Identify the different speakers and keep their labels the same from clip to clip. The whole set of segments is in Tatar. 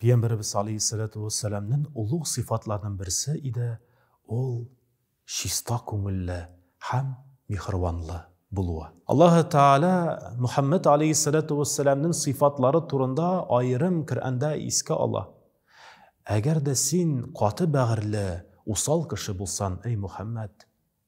Speaker 1: Пиямберебез алейһиссәләтү вәссәламнен олуг сыйфатларнын берсе иде, ул чиста күңелле һәм миһербанлы булуы. Аллаһы Тәгалә Мөхәммәд алейһиссәләтү вәссәламнен сыйфатлары турында аерым Коръәндә искә ала, Әгәр дә син каты бәгырьле, усал кеше булсан, әй Мөхәммәд,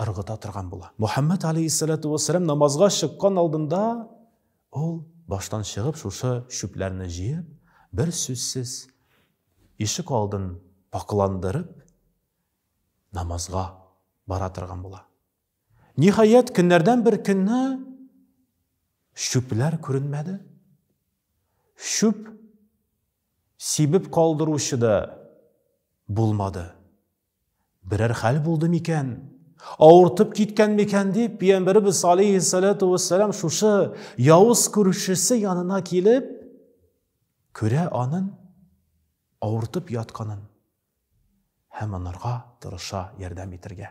Speaker 1: ыргыта торган була. Мөхәммәд алейһиссәләтү вәссәлам намазга чыккан алдында ул баштан чыгып шушы чүпләрне җыеп, бер сүзсез ишек алдын пакыландырып намазга бара торган була. Ниһаять, көннәрдән бер көнне чүпләр күренмәде. Чүп сибеп калдыручы да булмады. Берәр хәл булды микән? Авыртып киткән микән дип, пиямбәребез алейхиссалату вассалам шушы явыз күршесе янына килеп, күрә анын авыртып ятканын һәм анарга тырыша ярдәм итергә.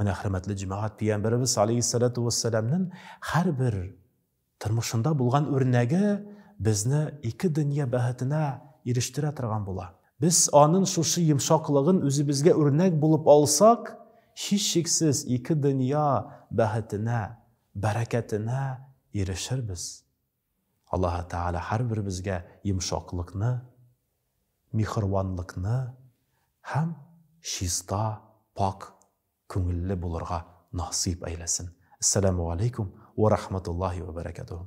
Speaker 1: Менә хөрмәтле җәмәгать пиямбәребез алейхиссалату вассаламның һәрбер тормышында булган үрнәге безне ике дөнья бәхетенә ирештерә торган була. Без аның шушы йомшаклыгын үзебезгә үрнәк булып алсак, һичшиксез ике дөнья бәхетенә, бәрәкәтенә ирешербез. Аллаһы Тәгалә һәрберебезгә йомшаклыкны, миһербанлыкны һәм чиста, пакь күңелле булырга насыйп әйләсен. Әссәламү галәйкүм уә рахматуллаһи уә бәрәкәтүһү.